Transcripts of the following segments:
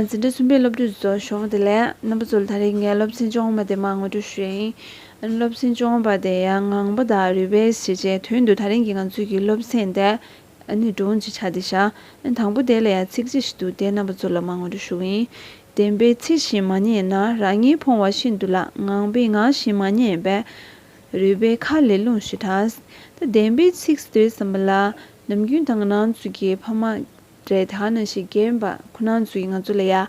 འཛིན་གྲྭ་གསུམ་པའི་སློབ་ཕྲུག་ཚོ་ཞོགས་དེ་ལས་རྣམ་པ་ཚོ་ལ་ད་རེས་ངས་སློབ་ཚན་སྦྱོང་བ་དེ་མང་ངོ་སྤྲོད་ཞུས་ཡིན། སློབ་ཚན་སྦྱོང་བ་དེ་ཡང་ངང་པ་དང་རུས་པའི་བྱས་རྗེས་དོན་དུ་ད་རིང་གི་ང་ཚོས་ཀྱི་སློབ་ཚན་དེ་ནི་སྒྲུང་གི་ཆ་དེ་ཤག་དང་པོ་དེ་ལ་ཡང་ཚིག་གཅིག་ཞིག་འདུག་དེ་རྣམ་པ་ཚོ་ལ་མང་ངོ་སྤྲོད་ཞུ་གི་ཡིན། བདེན་པའི་ཚིག་བཞིན་མ་ཉན་ན་རང་ཉིད་ཕོང་བ་ཤིན་ཏུ་ལགས་ངང་པའི་ངག་བཞིན་མ་ཉན་པས་རུས་པའི་ཁ་ལས་རླུང་ཞིག་གྲགས། ད་བདེན་པའི་ཚིག་ཟེར་བསམ་པ་ལ་ནམ་རྒྱུན་ད་ང་ནང་ཚུད་ཀྱི་ཕ་མ། གྲལ་དག་ནང་བཞིན་རྒན་པ་ཁོ་ན་ཚོས་ང་ཚོ་ལ་ཡ།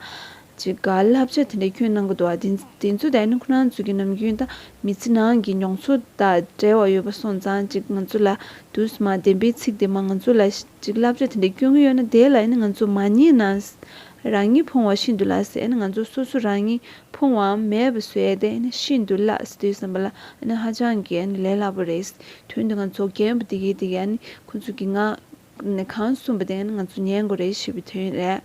ཅི་དགའ་བསླབ་བྱ་དེ་འདྲ་ཁྱོན་གནང་གི་འདུག་ཨ། དེ་ཚོ་དག་ནི་ཁོ་ན་ཚོ་གི་ནམ་རྒྱུན་དང་མི་ཚེ་ནང་གི་མྱོང་ཚོར་དང་བྲལ་བ་ཡོད་པ་སོང་ཙང་ཅིག་ང་ཚོ་ལ་དུས་སུ་མ་བདེན་པའི་ཚིག་དེ་མ་ང་ཚོ་ལ་ཅིག་བསླབ་བྱ་དེ་འདྲ་སྐྱོན་གྱི་ཡོད་ན་དེ་ལ་ཡིན་ན་ང་ཚོ་མ་ཉེས་ན། རང་ཉིད་ཕོང་བ་ཤིན་ཏུ་ལགས་སེ་ཨ་ནི་ང་ཚོ་སོ་སོ་རང་ཉིད་ཕོང་བའམ་མེད་པ་བཟོས་ཨ་དེ་ནི་ཤིན་ཏུ་ལགས་སེ་དེ་བསམ་པ་ལ་ཨ་ནི་ཧ་ཅང་གི་ཨ་ནི་ལས་སླ་པོ་རེད། དོན་དུ་ང་ཚོ་རྒན་པོ་དེ་གས་དེ་གས་ཨ་ནི་ཁོ་ཚོ་གི་ང། ནི་གང་གསུངས་པ་དེ་ང་ཚོ་ཉན་དགོས་རེད་ཞེས་པའི་དོན་རེད།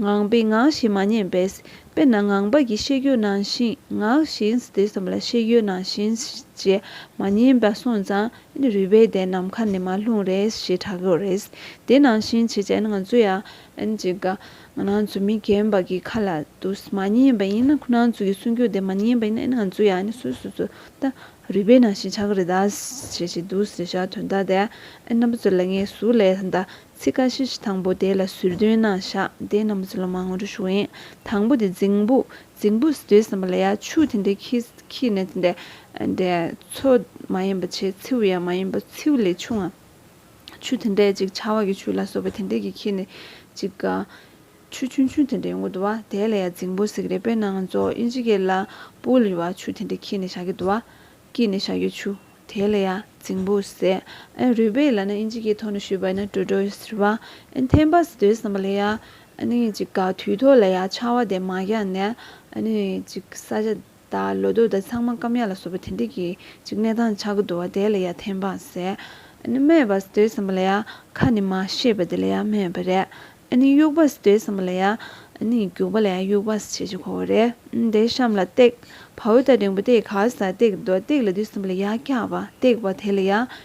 ངང་པས་ངག་བཞིན་མ་ཉན་པས། དཔེར་ན་ངང་པ་གིས་ཤེས་ཡོད་ནང་བཞིན་ངག་བཞིན་དེ་བསམ་པ་ལ་ཤེས་ཡོད་ནང་བཞིན་ཞེས་མ་ཉན་པ་སོང་ཙང་ཨ་ནི་རུས་པའི་སྡེ་ནམ་མཁའ་ནས་མ་ལྷུང་རེད་ཞེས་གྲག་གི་རེད། དེ་ནང་བཞིན་བྱེད་ཅེས་ང་ཚོ་ཡང་ཨ་ནི་ཅིག་ག། ང་ནང་ཚོ་མི་རྒན་པ་གི་ཁ་ལ་དུ་མ་ཉན་པ་ཡིན་ན་ཁོ་ནང་ཚོ་གི་གསུང་རྒྱུན་དེ་མ་ཉན་པ་ཡིན་ན་ཨ་ནི་ང་ཚོ་ཡང་ཨ་ནི་སུས་སུ་ཚོ་ལྟ་རུས་པའི་ནང་བཞིན་ཆང་གི་རི་དྭགས་ཞེས་བྱའི་དུག་གསེར་ཞག་དོན་དག་དེ་རྣམ་པ་ཚོ་ལ་ངའི་གཟུགས་ལས་ད་ཚིག་ཀ་ཤི་ཤི་དང་པོ་དེ་ལ་ཟུར་འདོན་གནང་བཞག་དེ་རྣམ་པ་ཚོ་ལ་མ་ངོ་སྤྲོད་ཞུ་བ་ཡིན་དང་པོ་དེ་རྫིང་བུ་རྫིང་བུ་ཟེར་བསམ་པ་ལ་ཡ་ཆུ་དེ་འདྲའི་ཁྱི་ཁྱི་ནི་དེ་འདྲའི་མཚོ་མ་ཡིན་པ་ཆེ་མཚེའུ་ཡང་མ་ཡིན་པ་མཚེའུ་ལས་ཆུང་ང་ཆུ་དེ་འདྲའི་ཅིག་ཆར་བ་གི་ཆུ་ལ་སོགས་པ་དེ་འདྲའི་གི་ཁྱི་ནི་ཅིག་ག། ཆུ་ཆུང་ཆུང་དེ་འདྲའི་ངུ་འདུག་བ་དེ་ལ་ཡང་རྫིང་བུ་ཟེགས་རེད་དཔེར་ན་ང་ཚོ་དབྱིན་ཇི་གེ་ལ་པུའུ་ལ་ཡོད་བ་ཆུ་དེ་འདྲའི་འཁྱིལ་ནས་བཞག་གི་འདུག་བ། སྐྱིད་ནས་བཞག་ཡོད་ཆུ་དེ་ལ་ཡང་རྫིང་བུ་ཟེགས་ཨན་རུས་པའི་ལ་ན་དབྱིན་ཇི་གེ་ཐོག་ནས་ཤུལ་བ་ཡིན་ན་དྲོད་དྲོད་ཟེར་བ་ཨན་ཐན་པ་ཟེར་དོའི་བསམ་པ་ལ་ཡ་ཨན་དབྱིན་ཇི་ག་དུས་ཐོག་ལ་ཡ་ཆར་བ་དེ་མ་བཞག་ནས་ཨན་དབྱིན་ཇི་ག་ས་ཆ། ད་ལོ་དུས་ད་ཚང་མ་སྐམ་ཡག་ལ་བཟོ་པོ་དེ་འདྲས་ཀྱི་ཅིག་གནས་སྟངས་ཆགས་ཀྱི་འདུག་བ་དེ་ལ་ཡ་ཐན་པང་ཟེར་ཨ་ནི་སྨྲས་པ་ཟེར་དོའི་ཟམ་པ་ལ་ཡ་ཁ་ནི་མ་ཤེས་པ་དེ་ལ་ཡ་སྨྲས་པ་རེད་ཨ་ནི་དབྱུག་པ་ཟེར་དོའི་ཟམ་པ་ལ་ཡ་ཨ་ནི་རྒྱུག་པ་ལ་ཡ་དབྱུག་པ་ཟེར་ཅེས་གོ་བ་རེད་དེ་གཤམ་ལ་སྟེགས་བ་འོད་ད་རིང་པོ་དེ་ག་ས་སྟེགས་འདུག་སྟེགས་ལ་དུས་ཟམ་པ་ལ་ཡ་སྐྱག་པ་སྟེགས་བ་དེ་ལ་ཡ་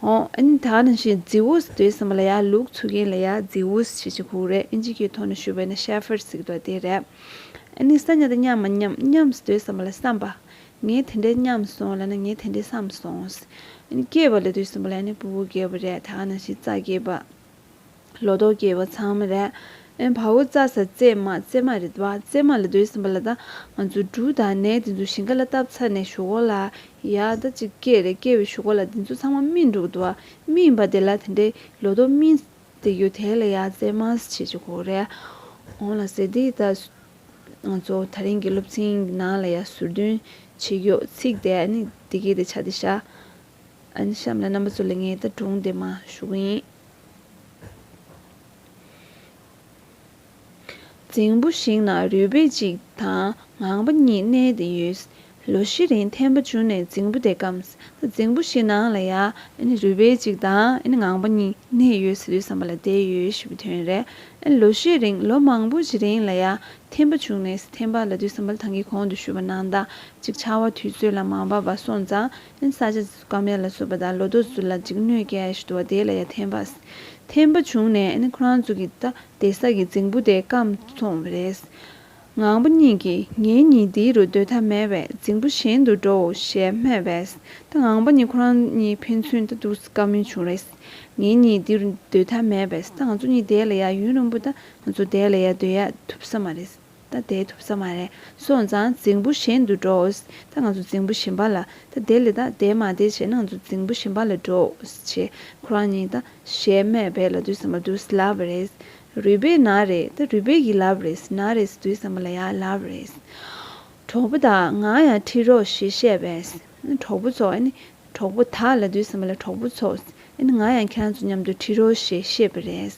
ཧོང་ཨིན་ད་ནི་ཞེས་རྫི་བོ་ཟེར་དུས་སེམས་པ་ལ་ཡག་ལུགས་འཚོལ་མཁན་ལ་ཡག་རྫི་བོ་ཞེས་ཅི་ཁུག་རེད་ཨིན་ཇི་ཀའི་ཐོག་ནས་ཞུ་བའི་ནི་ཤར་ཕེར་ཟིག་འདུག་དེ་རེད། ཨིན་ནི་ས་ཉག་དེ་མཉམ་མ་མཉམ་མཉམ་ཟེར་དུས་སེམས་པ་ལ་བསམ་པ། ངས་དེ་འདྲའི་མཉམ་སོང་ལ་ནི་ངས་དེ་འདྲའི་བསམ་སོང། ཨིན་སྐྱེས་པ་ལས་དུས་སེམས་པ་ལ་ཨིན་ནི་བུ་བུ་རྒས་པ་རེད་ད་ནི་ཞེས་རྩ་རྒས་པ། ལོ་ཏོག་སྐྱེས་པ་ཚང་མ་རེད། ཨེ་བྷ་འུ་རྩ་ཟ་བརྩེ་མ་བརྩེ་མ་རེད་བ་བརྩེ་མ་ལ་སྡོད་ཟིན་པ་ལ་ད་ང་ཚོ་འབྲུ་དང་ནས་དེ་ཚོ་ཞིང་ཁ་ལ་བཏབ་ཚ་ནས་ཞོ་གོ་ལ་ཡ་ད་ཅིག་སྐྱེས་རེད་སྐྱེས་བའི་ཞོ་གོ་ལ་དེ་ཚོ་ཚང་མ་སྨིན་འགྲོ་གི་འདུག་བ་སྨིན་པ་དེ་ལ་དེ་འདྲའི་ལོ་ཏོག་སྨིན་དེ་ཡོད་དེ་ལ་ཡ་བརྩེ་མ་བྱེད་ཀྱི་གོ་རེད་འོང་ལ་ཟེར་དེ་ད་ང་ཚོ་ད་རིང་གི་སློབ་ཚན་གི་ནང་ལ་ཡ་ཟུར་འདོན་བྱེད་ཡོད་ཚིག་དེ་ནི་དེ་གས་དེ་བྱ་དེ་བྱ། ཨན་གཤམ་ལ་རྣམ་པ་ཚོ་ལས་ངའི་ད་དྲུང་དེ་མ་བཞུགས་ཡིན། རྫིང་བུ་ཞིག་ན་རུས་སྦལ་གཅིག་དང་ངང་པ་གཉིས་གནས་ཏེ་ཡོད། ལོ་བཞི་རིང་ཐན་པ་བྱུང་ནས་རྫིང་བུ་དེ་སྐམས། ད་རྫིང་བུ་ཞིག་ནང་ལ་ཡང་རུས་སྦལ་གཅིག་དང་ངང་པ་གཉིས་གནས་ཡོད་ཟེར་དུས་བསམ་པ་ལ་བསྡད་ཡོད་ཞེས་པའི་དོན་རེད། ལོ་བཞི་རིང་ལོ་མང་པོ་ཞིག་རིང་ལ་ཡང་ཐན་པ་བྱུང་ནས་ཐན་པ་ལ་དུས་བསམ་པ་ལ་ཐང་གའི་གོང་དུ་བཞུགས་པ་ནང་ཟླ་གཅིག་ཆར་བ་དུས་ཚོད་ལ་མ་བབས་པར་སོང་ཙང་ལན། ས་ཆ་དཀའ་མེད་ལ་བཟོད་པ་དང་ལོ་ཏོག་ཚུལ་ལ་འཇིགས་གནོད་ཀྱི་ཨེ་ཤི་དུ་བ་དེ་ལ་ཡང་ཐན་པ། ཐན་པ་བྱུང་ནས་ཨེ་ཁོ་རང་ཚོ་གི་ད་དེ་ས་གི་རྫིང་བུ་དེ་སྐམ་སོང་བས་རེད། ངང་པ་གཉིས་ཀྱིས་ངའི་གཉིད་འདི་རུ་སྡོད་ཐབས་མེད་བས་རྫིང་བུ་གཞན་དུ་འགྲོའོ་ཞེས་སྨྲས་བས་ད་ངང་པ་གཉིས་ཁོ་རང་གཉིས་ཕན་ཚུན་ད་འདུག་དཀའ་མོ་བྱུང་རེད། ངའི་གཉིད་འདི་རུ་སྡོད་ཐབས་མེད་བས་ད་ང་ཚོ་གཉིས་བསྡད་ལ་ཡ་ཡུན་རིང་པོ་ད་ང་ཚོ་བསྡད་ལ་ཡ་སྡོད་ཡ་ཐུབ་ས་མ་རེད། ད་བསྡད་ཐུབ་ས་མ་རེད། སོང་ཙང་རྫིང་བུ་གཞན་དུ་འགྲོ། ད་ང་ཚོ་རྫིང་བུ་གཞན་པ་ལ་ད་བསྡད་ལེ་ད་བསྡད་མ་བསྡད་བྱས་ན་ང་ཚོ་རྫིང་བུ་གཞན་པ་ལ་འགྲོ། ཞེས་ཁོ་རང་གཉིས་ད་ཞེས་སྨྲས་པས་ལ་དུས་ཟ་མ་དུས་ལ་བ་རེད། རུས་སྦལ་ན་རེད་ད་རུས་སྦལ་གྱིས་ལ་བ་རེད་ན་རེད་ཟེར་དུས་ཟ་མ་ལ་ཡང་ལ་བ་རེད། གྲོགས་པོ་དག་ང་ཡང་ཁྲིད་རོགས་ཞེས་བཤད་པས། གྲོགས་པོ་ཚོ། གྲོགས་པོ་དག་ལ་དུས་ཟིན་པ་ལ་གྲོགས་པོ་ཚོ། ང་ཡང་ཁྱེད་རང་ཚོ་མཉམ་དུ་ཁྲིད་རོགས་ཞེས་བཤད་པ་རེད།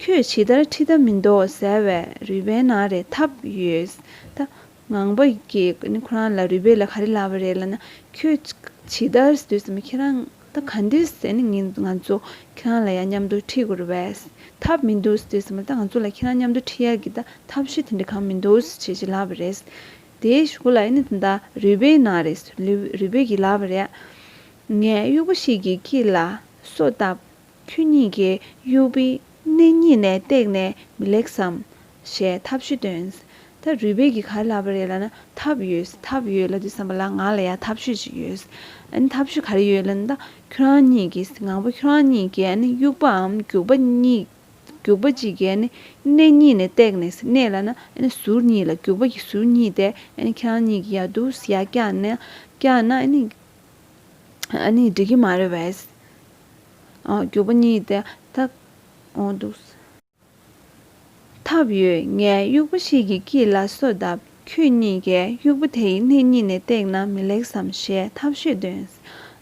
ཁྱོས་ཇི་ལྟར་ཁྲིད་ཐབས་མི་འདུག་ཟེར་བས་རུས་པའི་ནང་རེ་འཐབ་ཡོད། ད་ངང་པ་གིས་ཁོ་རང་ལ་རུས་པའི་ལ་ག་རེ་ལབ་པ་རེད་ལབ་ན་ཁྱོས་ཇི་ལྟར་དུས་ཟིན་པ་ཁྱེད་རང་ད་ག་འདུག་ང་ཚོ་ཁྱེད་རང་ལ་ཡང་མཉམ་དུ་ཁྲིད་དགོས་རེད། འཐབ་མི་འདུག་དུས་ཟིན་པ་ད་ང་ཚོ་ལ་ཁྱེད་རང་མཉམ་དུ་ཁྲིད་ཡག་གི་ད་འཐབ་ཤེས་དེ་འདྲ་གང་མི་འདུག་ཞེས་ལབ་པ་རེད། དེའི་གཞུག་ལ་ནི་དེ་འདྲ་རུས་པའི་ནང་རེ་རུས་པའི་གྱི་ལག་པ་རེ། ངས་དབྱུག་པ་ཞིག་གིས་ཁྱི་ལ་སོ་བཏབ། ཁྱོད་གཉིས་ཀྱིས་དབྱུག་པའི་སྣེ་གཉིས་ནས་བཏེགས་ནས་མི་ལེགས་སམ། ཞེས་ཐབས་ཤུ་སྟོན། ད་རུས་པའི་གྱི་གར་ལག་པ་རེ་ལ་ནི་ཐབས་ཡོད་ཐབས་ཡོད་ལ་དུས་སམ་པ་ལ་ང་ལ་ཡང་ཐབས་ཤུ་ཅིག་ཡོད། ཨ་ནི་ཐབས་ཤུ་ག་རེ་ཡོད་ལ་ནི་ད་ཁྱོད་རང་གཉིས་ཀྱིས་ང་པོ་ཁྱོད་རང་གཉིས་ཀྱིས་ཨ་ནི་དབྱུག་པའམ་རྒྱུག་པ་གཉིས། རྒྱུག་པ་སྤྱི་སྐད་ནི་སྣེ་གཉིས་ནས་བཏེགས་ནས་སྣེ་ལ་ན་ཟུར་གཉིས་ལ་རྒྱུག་པ་ཀྱི་ཟུར་གཉིས་ཏེ་ཁྱང་གཉིས་ཀྱི་ཡ་དུས་ཡ་བཀྱག་ན་བཀྱག་ན་ནི་འགྲིག་གི་མ་རེད་བས། རྒྱུག་པ་གཉིས་ཏེ་ད་འོང་འདུག། ཐབས་ཡོད་ངས་དབྱུག་པ་ཞིག་གི་དཀྱིལ་ལ་སོ་བརྡབས། ཁྱོད་གཉིས་ཀས་དབྱུག་པ་དེ་ཡི་སྣེ་གཉིས་ནས་བཏེགས་ན་མི་ལེགས་སམ་ཞེས་ཐབས་ཤེས་འདོན།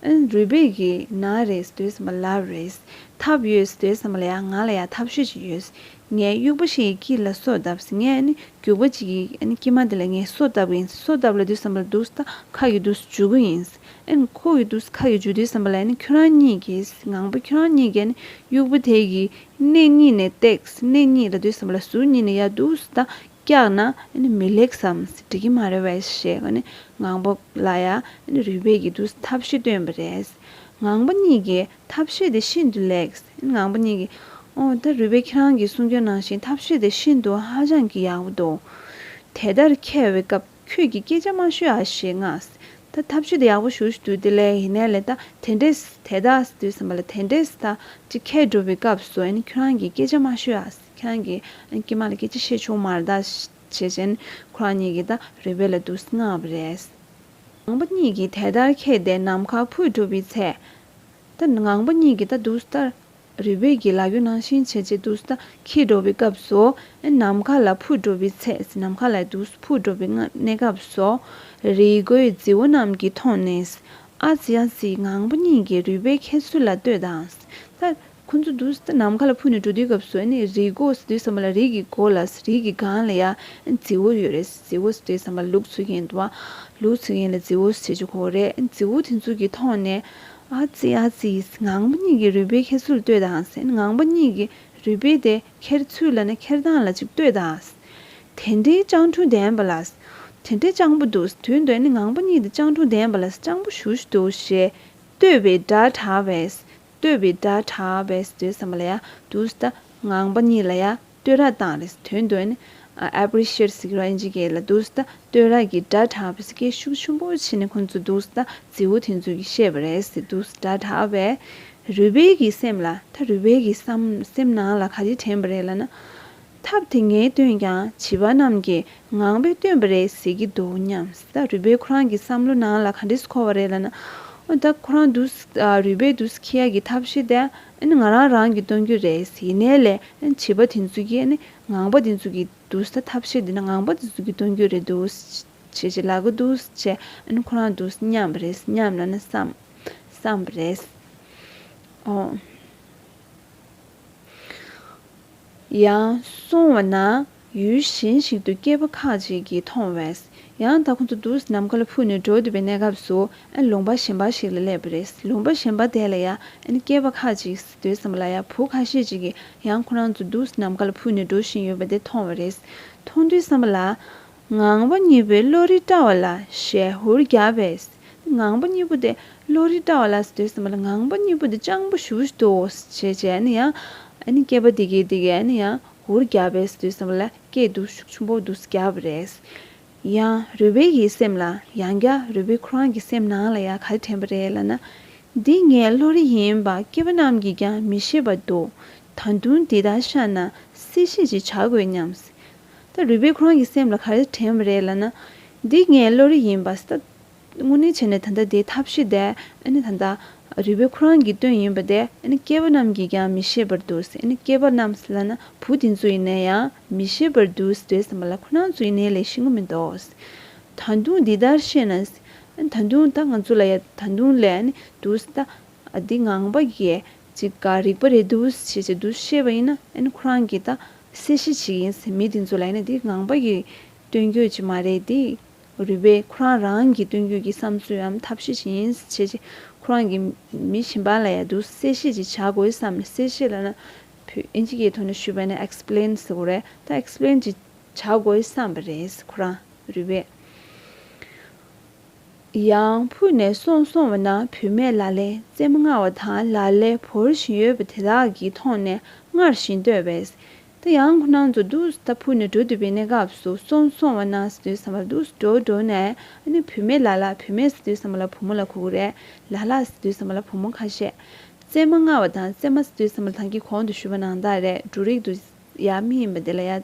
ཨན། རུས་སྦལ་གྱིས་ན་རེ་ཟློས་སམ་ལ་རེས་ཐབས་ཡོད་ཟློས་སམ་ལ་ཡང་ང་ལ་ཡང་ཐབས་ཤེས་ཅིག་ཡོད། ངས་དབྱུག་པ་ཞིག་གི་དཀྱིལ་ལ་སོ་བཏབ་ཟིན་ངས་ནི་རྒྱུག་པ་ཅིག་གི་དཀྱིལ་མ་དེ་ལ་ངས་སོ་བཏབ་གི་ཡིན་སོ་བཏབ་ལ་དུས་སམ་ལ་དུས་ད་ཁ་གི་དུས་འཇུ་གི་ཡིན། ཨན། ཁོ་གི་དུས་ཁ་གི་འཇུ་དུས་སམ་ལ་ནི་ཁྱོད་རང་གཉིས་ཀྱིས་ངང་པ་ཁྱོད་རང་གཉིས་ཀས་ནི་དབྱུག་པ་དེ་ཡི་སྣེ་གཉིས་ནས་བཏེགས་སྣེ་གཉིས་ལ་དུས་སམ་ལ་ཟུར་གཉིས་ནས་ཡར་དུས་ད་བཀྱགས་ན་མི་ལེགས་སམ་འགྲིག་གི་མ་རེད་བས་ཞེས་ངང་པ་ལ་ཡང་རུས་སྦལ་གྱི་དུས་ཐབས་ཤེས་བཏོན་པ་རེད། ངང་པ་གཉིས་ཀྱིས་ཐབས་ཤེས་དེ་ཤིན་ཏུ་ལེགས། ངང་པ་གཉིས་ཀྱིས་འོ་ད་རུས་སྦལ་ཁྱེད་རང་གིས་གསུང་སྐྱོན་གནང་བཞིན་ཐབས་ཤེས་དེ་ཤིན་ཏུ་ཧ་ཅང་གི་ཡག་པོ་འདུག་དེ་ལྟར་ཁྱེར་བའི་སྐབས་ཁྱོད་ཀྱིས་སྐད་ཆ་མ་ཤོད་ཨ་ཞེས་མངགས། ད་ཐབས་ཤེས་དེ་ཡག་པོ་ཞུ་ཞུ་དུས་དེ་ལས་ཡིན་ནའི་ལས་ད་དེ་འདྲས་དེ་ད་དུས་སམ་པ་ལ་དེ་འདྲས་ད་ཅིག་ཁྱེད་འགྲོ་བའི་སྐབས་སུ་ཁྱོད་རང་གིས་སྐད་ཆ་མ་ཤོད་ཨ། ཁྱེད་ཀྱིས་ཀྱེ་མ་ལ་སྐད་ཅིག་བཤད་ཆོག་མར་བདག་བྱེད་ཅན་ཁོ་རང་གཉིས་ཀྱིས་ད་རེ་བས་ལ་དུག་སྔ་བ་རེད། ངང་པ་གཉིས་ཀྱིས་དེ་ལྟར་ཁེགས་ཏེ་ནམ་མཁའ་ཕུད་གྲུབ་པའི་ཚེ། ད་ངང་པ་གཉིས་ཀྱིས་ད་དུག་ས་ལྟར་རེ་བས་ཀྱིས་ལག་གཡོན་ནང་བཞིན་བྱས་རྗེས་དུག་ས་ཁེགས་འགྲོ་བའི་སྐབས་སུ། ནམ་མཁའ་ལ་ཕུད་གྲུབ་པའི་ཚེ་ནམ་མཁའ་ལ་དུག་ས་ཕུད་འགྲོ་བའི་གནས་སྐབས་སུ། རི་མགོའི་རྫི་བོ་རྣམས་ཀྱིས་མཐོང་ནས། ཨ་ཙི་ཨ་ཙི་ངང་པ་གཉིས་ཀྱིས་རུས་པའི་ཁལ་ཚུར་ལ་གཏོད་དང། ད། ཁོ་ཚོ་དུས་ཏེ་ནམ་མཁའ་ལ་འཕུར་ནས་འགྲོ་དུས་སྐབས་སུ་ནི་རིའི་སྒོ་ཟེ་དུས་ཟ་མ་ལ་རིགས་ཀྱི་སྒོ་ལ་རིགས་ཀྱི་སྒང་ལ་ཡང་རྫི་བོ་ཡོད་རེད་རྫི་བོ་ཟེ་དུས་ཟ་མ་ལུག་ཚུགས་མཁན་དུ་བ་ལུག་ཚུགས་མཁན་ལ་རྫི་བོ་ཟེ་ཆོག་གོ་རེད་རྫི་བོ་དེ་ཚུགས་ཀྱིས་མཐོང་ནས། ཨ་ཙི་ཨ་ཙི། ངང་པ་གཉིས་ཀྱིས་རུས་སྦལ་ཁྱེར་ཚུལ་ལྟོས་དང་ཟེར་ནས་ངང་པ་གཉིས་ཀྱིས་རུས་སྦལ་དེ་ཁྱེར་ཚུལ་ལ་ནི་ཁྱེར་སྟངས་ལ་ཅིག་ལྟོས་དང། དེ་འདྲའི་སྤྱང་གྲུང་ལྡན་པ་ལ། དེ་འདྲའི་སྤྱང་པོ་འདུག་དུས་འདོད་ནི་ངང་པ་གཉིས་དེ་སྤྱང་གྲུང་ལྡན་པ་ལ་སྤྱང་པོ་ཞུ་ཞུ་འདུག་ཞེས་ལྟོས་པའི་སྒྲ་གྲགས་པས། ལྟོས་པའི་སྒྲ་གྲགས་པས་སུ་ལྟོས་བསམ་པ་ལ་ཡང་དུ་སྟེ། ངང་པ་གཉིས་ལ་ཡང་ལྟོས་ར་དང་རེ་སུ་དོན་དོན་ནི། appreciate གཟིགས་ར་ཨེ་འཇིགས་སྐད་ལ་དུ་སྟེ་ལྟོས་ར་གི་སྒྲ་གྲགས་པས་སུ་སྐད་ཤུགས་ཆུན་པོ་ཕྱིན་ནས་ཁོ་ཚོ་དུ་སྟེ་རྫི་བོ་དེ་ཚོས་ཀྱིས་བཤད་པ་རེད་ཟེར་དུ་སྟེ་སྒྲ་གྲགས་པས། རུས་སྦལ་གྱི་སེམས་ལ་ད་རུས་སྦལ་གྱི་སེམས་ནང་ལ་ག་རེ་དྲན་པ་རེད་ལ་ན། ཐབས་དེ་ངས་བཏོན་ཀྱང་བྱིས་པ་རྣམས་ཀྱིས་ངང་པས་བཏོན་པ་རེད་ཟེར་གྱི་འདུག་སྙམ། ད་རུས་པའི་ཁོ་རང་གི་བསམ་བློ་ནང་ལ་ག་འདྲས་སུ་འཁོར་བ་རེད་ལ་ན། འོ་ད་ཁོ་རང་དུ་རུས་པའི་དུ་སི་ཁི་ཡ་གི་ཐབས་ཤེས་དེ་ང་རང་རང་གིས་བཏོན་རྒྱུ་རེད་ཟེར་གྱི་ནས་ལས་བྱིས་པ་དེ་ཚོ་གིས་ངང་པ་དེ་ཚོ་གི་དུ་སི་ཐབས་ཤེས་དེ་ངང་པ་དེ་ཚོ་གིས་བཏོན་རྒྱུ་རེད་དུ་སི་བྱས་ལ་གི་དུ་སི་བྱས་ཁོ་རང་དུ་སི་སྙམ་པ་རེད་སྙམ་ལ་ན་བསམ། བསམ་པ་རེད། ཡང་སོང་བ་ན་ཡུལ་གཞན་ཞིག་ཏུ་སྐྱེས་བུ་ཁ་ཅིག་གིས་མཐོང་བས་ཡང་དག་ཁོང་ཚོ་འདུག་ཟེར་ནམ་མཁའ་ལ་ཕུག་ནས་འགྲོ་འདོད་པའི་གནས་སྐབས་སུ་ཨན་ལུང་པ་གཞན་པ་ཞིག་ལ་སླེབས་པ་རེད་ལུང་པ་གཞན་པ་དེ་ལ་ཡང་ཨན་སྐྱེས་བ་ཁ་ཅིག་གིས་སྡོད་བསམ་པ་ལ་ཡང་བུ་ཁ་ཤས་ཅིག་གིས་ཡང་ཁོ་རང་ཚོ་འདུག་ཟེར་ནམ་མཁའ་ལ་ཕུག་ནས་འགྲོ་བཞིན་ཡོད་པ་དེ་མཐོང་བ་རེད་མཐོང་དུས་བསམ་པ་ལ། ངང་པ་གཉིས་པོའི་བློ་རིག་བཀྲ་བ་ལ་ཞལ་ཧུར་རྒྱ་བས། ངང་པ་གཉིས་པོ་དེ་བློ་རིག་བཀྲ་བ་ལ་ཟེར་དུས་ཟེར་མ་ལ་ངང་པ་གཉིས་པོ་དེ་སྤྱང་པོ་ཞུ་ཞུ་དུ་འོ་ཞེས་བྱས་ཡང་ནི་ཡང། ཨ་ནི་སྐྱེས་པ་འདི་སྐྱེས་འདི་སྐྱེས་ཨ་ནི་ཡང་ཧུར་རྒྱ་བས་ཟེར་དུས་ཟེར་མ་ལ་སྐྱེས་འདུག་ཤུགས་ཆུང་པོ་འདུག་རྒྱ་བ་རེད། ཡང་རུས་པའི་ཡིད་སེམས་ལ་ཡང་རྒྱ་རུས་པའི་ཁོ་རང་གི་སེམས་ནང་ལ་ཡང་ག་རེ་དྲན་པ་རེད་ལ་ན། འདི་ངའི་བློ་རིག་ཡིན་པ་སྐྱེས་པ་རྣམས་ཀྱིས་ཀྱང་མི་ཤེས་པ་འདུག་ད་དུང་འདི་ལྟར་ཤར་ན་སེ་ཤེས་ཅིག་བྱ་དགོས་སྙམ། ད་རུས་པས་ཁོ་རང་གི་སེམས་ལ་ག་རེ་དྲན་བ་རེད་ལ་ན། འདི་ངའི་བློ་རིག་ཡིན་པ་ལྟ། དངོས་གནས་བྱས་ནས་ད་ལྟ་དེའི་ཐབས་ཤེས་དེ་ནི་ད་ལྟ་རུས་པས་ཁོ་རང་གིས་བཏོན་ཡིན་པ་དེ་ནི་སྐྱེས་པ་རྣམས་ཀྱིས་ཀྱང་མི་ཤེས་པར་འདུག་ཟེར་ནས་སྐྱེས་པ་རྣམས་ལ་ན་བུ་དེ་ཚོ་ཡིན་ན་ཡང་མི་ཤེས་པར་འདུག་ཟེར་བསམ་པ་ལ་ཁོ་རང་ཚོ་ཡིན་ནའི་ལས་ཤེས་ངོ་མི་འདོག། ད་དུང་འདི་ལྟར་བཤད་ན། ད་དུང་ད་ང་ཚོ་ལ་ཡ་ད་དུང་ལས་ནི་འདུག་ད་འདི་ངང་པ་གས་ཅིག་ག་རིག་པ་རེད་འདུག་ཅེས་ཅིག་འདུག་བཤད་པ་ཡིན་ན་ཁོ་རང་གིས་ད། སེ་ཤི་ཆི་ཡིན་ཟེར་མི་དེ་ཚོ་ལ་ཡིན་ན་དེ་ངང་པ་ཡི་སྟོན་རྒྱུད་ཅིག་མ་རེད་དེ། རུས་པའི་ཁོ་རང་རང་གི་སྟོན་རྒྱུད་ཀྱི་བསམ་ཚུལ་འམ་ཐབས་ཤེས་ཅི་ཡིན་བྱས་རྗེས་ཁོ་རང་གི་མི་ཞིམ་པ་ལ་ཡ་དུ་སེ་ཤི་ཅིག་བྱ་དགོས་བསམ་ནས་སེ་ཤི་ལ་ན་བུས་ཨིན་ཇི་ཀའི་ཐོག་ནས་ཞུས་པ་ནས explain ཟེར་བ་རེད་ད explain ཅིག་བྱ་དགོས་བསམ་པ་རེད་ཟེར་ཁོ་རང་རུས་པའི། ཡང་ཕུ་ནས་སོང་སོང་བ་ན་བུད་མེད་ལ་ལའི་རྩེ་མོ་ལྔ་བ་དང་ལ་ལས་བོར་བཞིན་ཡོད་པ་དེ་དག་གིས་མཐོང་ནས་སྔར་བཞིན་བསྟོད་པས། ད་ཡང་ཁོ་རང་ཚོ་དུས་ད་ཕུ་ནས་འགྲོ་འདོད་པའི་གནས་སྐབས་སུ་སོང་སོང་བ་ན་ཟེར་དུས་བསམ་པ་དུས་སུ་འགྲོ་འགྲོ་ནས་ཨ་ནི་བུད་མེད་ལ་ལ་བུད་མེད་ཟེར་དུས་བསམ་པ་ལ་བུ་མོ་ལ་ཁུ་ཁུ་རེད་ལ་ལ་ཟེར་དུས་བསམ་པ་ལ་བུ་མོ་ཁ་ཤས། རྩེ་མ་ལྔ་བ་དང་རྩེ་མ་ཟེར་དུས་བསམ་པ་ལ་ཐང་གི་གོང་དུ་བཞུར་བ་ནང་དག་རེད་འབྲུ་རིགས་དུ་ཡ་མི་ཡིན་པ་དེ་ལ་ཡ།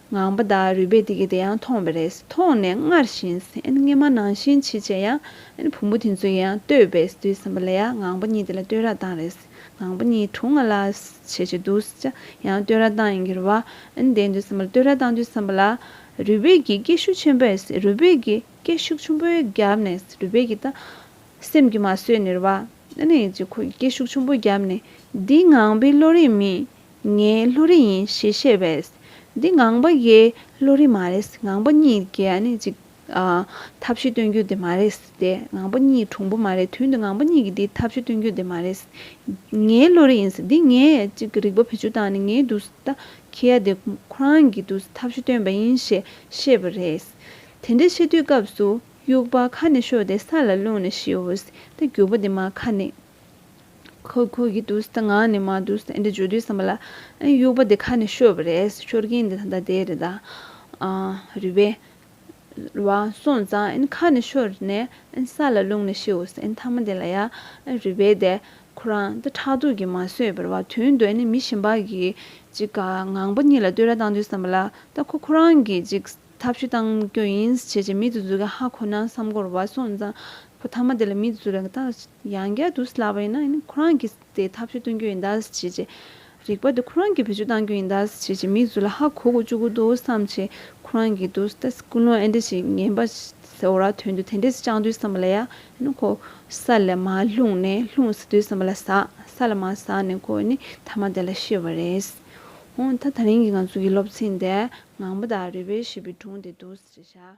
ངང་པ་དག་རུས་པས་དེ་གི་དེ་ཡང་མཐོང་བས་རེས་མཐོང་ནས་སྔར་བཞིན་སྙེ་མ་ནང་བཞིན་མཆིས་བྱས་ཡང། བུ་མོ་དེ་ཚོ་ཡང་ལྟོས་པས་དུས་གསུམ་པ་ལ་ཡང་ངང་པ་གཉིས་དེ་ལ་ལྟོས་ར་དང་རེས་ངང་པ་གཉིས་དྲུང་ང་ལ་བྱས་བྱས་འདུག་བྱས་ཡང་ལྟོས་ར་དང་ཡང་གྱུར་བ། དེ་དུས་གསུམ་པ་ལ་ལྟོས་ར་དང་དུས་གསུམ་པ་ལ། རུས་པས་གྱི་སྐད་ཤུགས་ཆེན་པོས་རུས་པས་གྱི་སྐད་ཤུགས་ཆུང་པོས་བརྒྱབ་ནས་རུས་པས་གྱི་ད། སེམས་ཀྱིས་མ་བཟོད་ནུར་བ། ཅི་ཁོ་ཡི་སྐད་ཤུགས་ཆུང་པོས་བརྒྱབ་ནས་འདི་ངང་པའི་བློ་རིག་མིན། ངའི་ལྷོ་རི་ཡིན་ཞེས་བཤད་པས། འདི་ངང་པ་འགའི་ལྷོ་རི་མ་རེད། ངང་པ་གཉིས་ཀྱི་ནི་གཅིག། ཐབས་ཤེས་སྟོན་རྒྱུ་དེ་མ་རེད། སྟེ། ངང་པ་གཉིས་གྲུང་པོ་མ་རེད། དོན་དུ་ངང་པ་གཉིས་ཀྱི་དེ་ཐབས་ཤེས་སྟོན་རྒྱུ་དེ་མ་རེད། ངའི་ལྷོ་རི་ཡིན། འདི་ངའི་གཅིག་རིག་པ་བེད་སྤྱོད་དང་ནི་ངའི་འདུག་ས་ད་ཁྱེད་ཡ་དེ་ཁོ་རང་གི་འདུག་ས་ཐབས་ཤེས་སྟོན་པ་ཡིན་ཞེས་བཤད་པ་རེད། དེ་འདྲའི་བཤད་དུས་སྐབས་སུ་དབྱུག་པ་ཁ་ནས་ཤོར་ཏེ་ས་ལ་བླུགས་ནས་ཤི་འོས། ད་རྒྱུག་པ་དེ་མ་ཁ་ནས། ཁོ་ཁོ་གི་དུས་སྟེ་ང་ནི་མ་དུས་སྟེ་འདི་བརྗོད་དུས་བསམ་པ་ལ། དབྱུག་པ་འདི་ཁ་ནས་ཤོར་བ་རེད་ཤོར་གྱིན་འདི་ད་ལྟ་དེ་རེད་ད། རུས་པའི། བ་སོང་ཙང་ཁ་ནས་ཤོར་ནས་ས་ལ་བླུགས་ནས་ཤི་འོ་ཟེར་མཐའ་མ་དེ་ལ་ཡ། རུས་པའི་དེ། ཁོ་རང་འདི་ཕྲག་དོག་གིས་མ་བཟོས་པར་བ་དུས་འདོད་ནས་མི་ཞིམ་པ་གིས་ཅིག་ངང་པ་གཉིས་ལ་ལྟོས་ར་བཏང་དུས་བསམ་པ་ལ་ད་ཁོ་ཁོ་རང་གིས་ཅིག། ཐབས་ཤུ་བཏང་རྒྱུ་ཡིན་བྱས་ཀྱི་མིད་དུ་འཛུལ་གི་ཧ་གོ་ན་བསམ་གོར་བ་སོང་ཙང་བུ་ཐ་མ་དེ་ལ་མིད་དུ་འཛུལ་ལ་གི་ད་ཡང་བསྐྱར་དུ་སླ་བ་ཡིན་ན་ཁོ་རང་གིས་དེ་ཐབས་ཤུ་བཏོན་རྒྱུ་ཡིན་ད་བྱས་ཀྱི་རིག་པ་དེ་ཁོ་རང་གིས་བེད་སྤྱོད་བཏང་རྒྱུ་ཡིན་ད་བྱས་ཀྱི་མིད་འཛུལ་ལ་ཧ་གོ་གོ་བཅུག་གི་འདུག་བསམ་བྱས་ཁོ་རང་གིས་དུ་ད་ཀུན་སློང་ཨེ་འདྲ་ཞིག་ངན་པ་ཟེ་བོ་ར་དོན་དུ་དེ་འདྲས་སུ་བཅང་དུས་བསམ་པ་ལ་ཡ་ནི་ཁོ་ས་ལ་མ་ལྷུང་ནས་ལྷུང་ཟེ་དུས་བསམ་པ་ལ་ཟ་ས་ལ་མ་ཟ་ནས་ཁོ་ནི་ཐ་མ་དེ་ལ་ཤི་བ་རེད། ཧོང་ད་ད་རིང་གི་ང་ཚོ་གི་སློབ་ཚན་དེ་ངང་པ་དང་རུས་པའི་བྱིས་པའི་དྲུང་དེ་འདུག་ཟེར་བྱ།